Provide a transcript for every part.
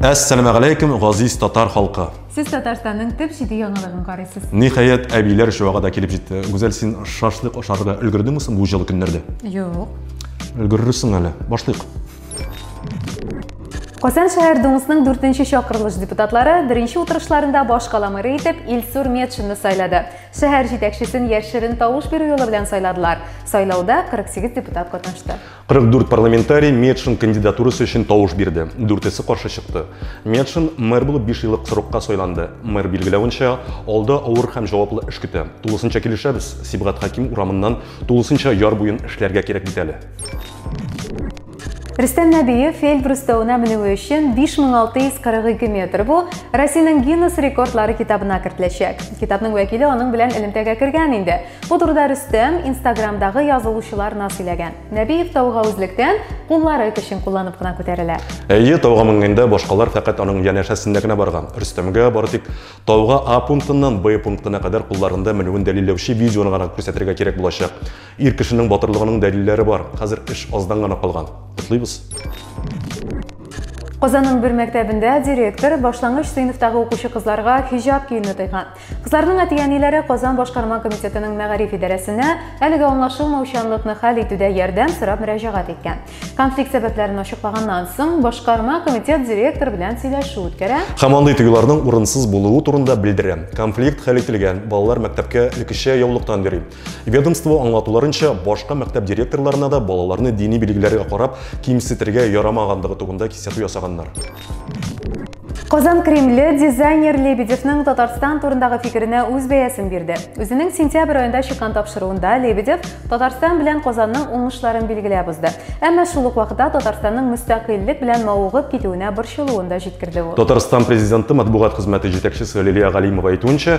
Әссәламә галәйкүм, газиз татар халкы. Сез Татарстанның төп җиде яңалыгын карыйсыз. Ниһаять, әбиләр чуага да килеп җитте. Гүзәл, син шашлык ашарга өлгердеңме соң бу җылы көннәрдә? Юк. Өлгерерсең әле. Башлыйк. Казан шәһәр Думасының 4 чакырылыш депутатлары беренче утырышларында баш кала мэры итеп Илсур Метшинны сайлады. Шәһәр җитәкчесен яшерен тавыш бирү юлы белән сайладылар. Сайлауда 48 депутат катнашты. 44 парламентарий Медшин кандидатурасы өчен тавыш бирде, дүртесе каршы чыкты. Медшин мэр булып биш еллык срокка сайланды. Мэр билгеләвенчә, алда авыр һәм җаваплы эш көтә. Тулысынча килешәбез, Сибгат Хәким урамыннан тулысынча яр буен эшләргә кирәк бит әле. Рөстәм Нәбиев Эльбрус тауына менүе өчен 5642 метр бу Россиянең Гиннес рекордлары китабына кертеләчәк. Китапның вәкиле аның белән элемтәгә кергән инде. Бу турыда Рөстәм Инстаграмдагы язылучыларына сөйләгән. Нәбиев тауга үзлектән куллары көчен кулланып кына күтәрелә. Әйе, тауга менгәндә башкалар фәкать аның янәшәсендә генә барган. Рөстәмгә бары тик тауга А пунктыннан Б пунктына кадәр кулларында менүен дәлилләүче видеоны гына күрсәтергә кирәк булачак. Ир кешенең батырлыгының дәлилләре бар. Хәзер эш аздан гына калган. Котлыйбыз! Казанның бер мәктәбендә директор башлангыч сыйныфтагы укучы кызларга хиҗаб киюне тыйган. Кызларның әти-әниләре Казан башкарма комитетының мәгариф идарәсенә әлеге аңлашылмаучанлыкны хәл итүдә ярдәм сорап мөрәҗәгать иткән. Конфликт сәбәпләрен ачыклаганнан соң, башкарма комитет директор белән сөйләшү үткәрә. Һәм андый тыюларның урынсыз булуы турында белдерә. Конфликт хәл ителгән, балалар мәктәпкә элеккечә яулыктан йөри. Ведомство аңлатуларынча, башка мәктәп директорларына да балаларны дини билгеләргә карап кимсетергә ярамагандыгы турында кисәтү ясаганнар. Казан Кремле дизайнер Лебедевның Татарстан турындагы фикеренә үз бәясен бирде. Үзенең сентябрь аенда чыккан тапшыруында Лебедев Татарстан белән Казанның уңышларын билгеләп узды. Әмма шул ук вакытта Татарстанның мөстәкыйльлек белән мавыгып китүенә борчылуын да җиткерде ул. Татарстан президенты матбугат хезмәте җитәкчесе Лилия Галимова әйтүенчә,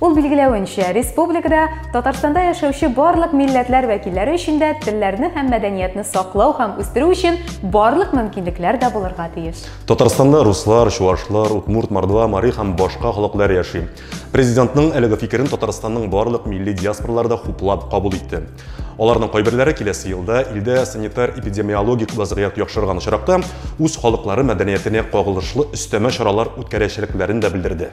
Ул билгеләвенчә, республикада Татарстанда яшәүче барлык милләтләр вәкилләре өчен дә телләрне һәм мәдәниятне саклау һәм үстерү өчен барлык мөмкинлекләр дә булырга тиеш. Татарстанда руслар, чувашлар, удмурт, мордва, мари һәм башка халыклар яши. Президентның әлеге фикерен Татарстанның барлык милли диаспоралары да хуплап кабул итте. Аларның кайберләре киләсе елда илдә санитар-эпидемиологик вазгыять яхшырган очракта үз халыклары мәдәниятенә кагылышлы өстәмә чаралар үткәрәчәкләрен дә белдерде.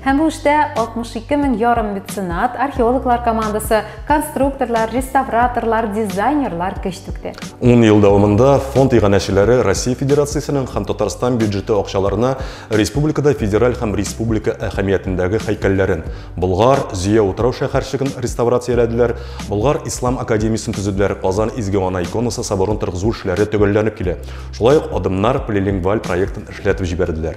Һәм бу эштә 62 мең ярым меценат, археологлар командасы, конструкторлар, реставраторлар, дизайнерлар көч түкте. 10 ел дәвамында фонд иганәчеләре Россия Федерациясенең һәм Татарстан бюджеты акчаларына республикада федераль һәм республика әһәмиятендәге һәйкәлләрен, Болгар, Зөя утрау шәһәрчеген реставрацияләделәр, Болгар ислам академиясен төзеделәр, Казан Изге Ана иконасы соборын торгызу эшләре төгәлләнеп килә. Шулай ук адымнар полилингваль проектын эшләтеп җибәрделәр.